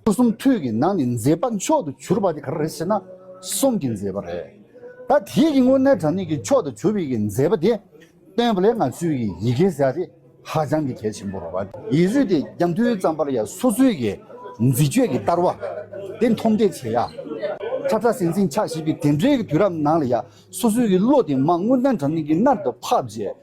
སྐུ་གསུང་ཐུགས་ཀྱི་ནང་ནས་མཛེས་པ་མཆོག་ཏུ་གྱུར་པ་དེ་ག་རེ་རེད་ཟེར་ན་གསུང་གི་མཛེས་པ་རེད། ད་དེའི་གི་དངོས་གནས་དྲང་ནས་ཀྱི་མཆོག་ཏུ་གྱུར་པའི་གི་མཛེས་པ་དེ་སྟོན་པ་ལས་ང་ཚོས་གི་ཡི་གེ་བཟའ་དེ་ཧ་ཅང་གི་གལ་ཆེན་པོ་རེད། ཡིད་རུས་དེ་རྒྱ་མཐུས་བརྩམས་པར་ཡ་སོ་སོའི་གི་མཛེས་དཔྱོད་གི་བསྟར་བ་དེ་མཐོང་འདེགས་བྱེད་ཡ། ཁྲ་ཁྲ་ཟིང་ཟིང་ཆགས་བཞིན་པའི་དེ་འདྲའི་གི་དུས་རབས་ནང་ལ་ཡ་སོ་སོའི་གི་བློ་དེ་མ་དངོས་གནས་དྲང་ནས་ཀྱི་མནར་དུ་ཕབ་རྗེས།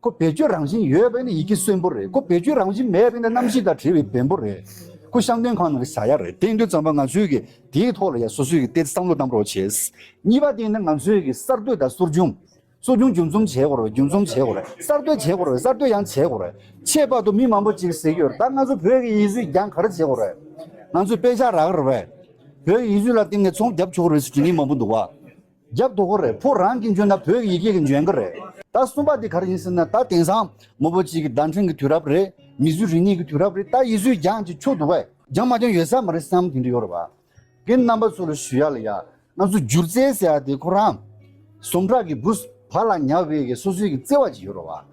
ཁོ་བེད་སྤྱོད་རང་བཞིན་ཡོད་པས་ན་ཡི་གེ་གསོན་པོ་རེད་ཁོ་བེད་སྤྱོད་རང་བཞིན་མེད་པས་ན་གནམ་གཤིས་དང་བྲལ་བའི་བེམ་པོ་རེད། ཁོ་ཤང་སྟོན་ཁང་ནང་གི་ཟ་ཡ་རེད་དེ་འདུན་ཙམ་པ་ང་ཚོས་ཀྱིས་དེའི་ཐོག་ལ་ཡང་སོ་སོས་ཀྱིས་བལྟས་ཏེ་བསམ་བློ་བཏང་རོགས་བྱས། གཉིས་པ་དེ་ནི་ང་ཚོས་ཀྱིས་གསར་གཏོད་དང་གསོ་སྦྱོང། གསོ་སྦྱོང་རྒྱུན་འཛོམས་བྱེད་དགོས་རེད་རྒྱུན་འཛོམས་བྱེད་དགོས་རེད་གསར་གཏོད་བྱེད་དགོས་རེད་གསར་གཏོད་ཡང་བྱེད་དགོས་རེད་ཁྱད་པར་དུ་མི་མང་པོ་ཅིག་ཟེར་གྱི་ཡོད་ད་ང་ཚོ་བོད་ཀྱི་ཡིག་གཟུགས་རྒྱང་གར་བྱེད་དགོས་རེད་ང་ཚོས་དཔེ་ཆ་རག་རེད་བོད་ཀྱི་ཡིག་གཟུགས་ལ་བརྟེན་ནས་ཚོང་བརྒྱབ་ཆོག་རེད་ཟེར་དྲི་ངན་མང་པོ་འདུག་བ། རྒྱབ་དོག་པོ་རེད་ཕོ་རང་གིས་འཇོན་ན་བོད་ཀྱི་ཡི་གེ་གིས་འཇོན་གི་རེད། ད་གསུམ་པ་དེ་ག་རེ་ཡིན་ཟེར་ན་ད་དེང་སང་མོ་བོ་གཅིག་གི་བརྡ་འཕྲིན་གི་དུས་རབས་རེད་མི་བཟོས་རིག་གནས་གི་དུས་རབས་རེད་ད་ཡིད་བཟོས་རྒྱང་ཅིག་ཆོད་འདུག་བས། རྒྱང་མ་རྒྱང་ཡོད་ས་མ་རེད་བསམ་དེ་འདྲ་ཡོད་རེད་བ། གི་རྣམ་པ་ཚོ་ལ་ཞུ་ཡག་ལ་ཡག་ང་ཚོ་སྒྱུར་རྩལ་ཟེར་ཡག་དེ་ཁོ་རང། ཟོམ་ཁྲག་གི་བུ། བ་ལ་ཉག་བྷེ་གི་སོ་སོའི་གི་བརྩེ་བ་ཅིག་ཡོད་རེད་བ།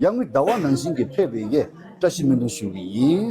ཡང་མི་གདའ་བ་ནང་བཞིན་གྱི་ཕལ་བའི་ཡས་བཀྲ་ཤིས་སྨོན་འདུན་ཞུ་བ་ཡིན།